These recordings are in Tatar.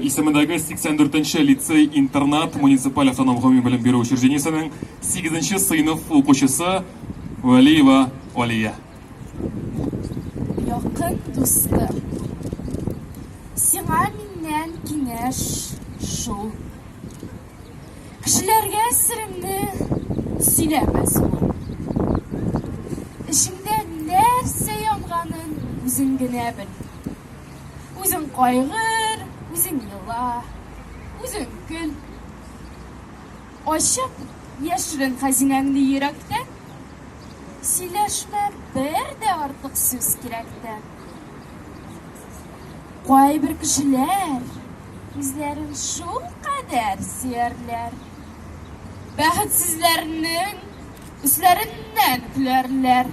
исемендәге 84 нче лицей-интернат муниципаль автоном гомуми белем бирү учреждениесенең 8 нче сыйныф укучысы Вәлиева Алия. Якын дустым, сиңа миннән киңәш шул. Кешеләргә сереңне сөйләмәс бул. Эчеңдә нәрсә янганын үзең генә бел. Үзең кайгыр, үзең ела, үзең көл. Ачып яшерен хәзинәңне йөрәктә, сөйләшмә бер дә артык сүз кирәктә. Кайбер кешеләр үзләрен шул кадәр сөярләр, бәхетсезләрнең үсләреннән көләрләр.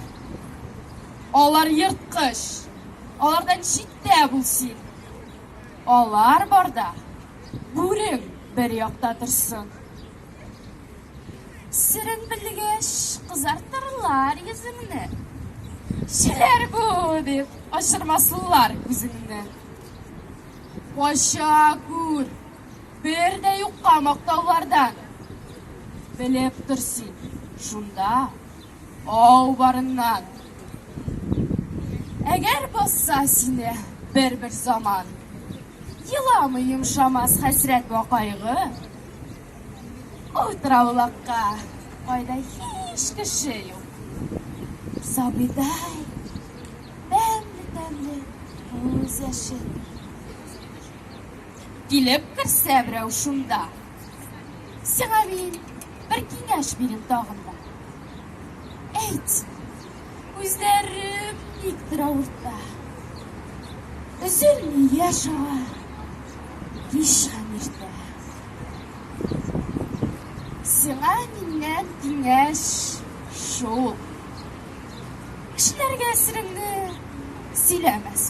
Алар ерткыч, Алардан читтә бул син. Алар барда бүрең бер якта торсын. Серен белгәч, кызартырлар йөзеңне. Шиләр бу, дип, ачырмаслар күзеңне. Кача күр, бер дә юкка мактаулардан. Белеп тор син, шунда Ау барыннан. Әгәр басса сине бер-бер заман, Еламы йомшамас хәсрәт вә кайгы. Ул траулакка кайда һич кеше юк. Сабыйдай, тәмле-тәмле күз яше. Килеп керсә берәү шунда, Сиңа мин бер киңәш бирим тагын да. Әйт, күзләрем никтер авырта. Өзелми яшь ага, кич һәм иртә. Сиңа миннән киңәш шул. Кешеләргә сиреңне сөйләмәс.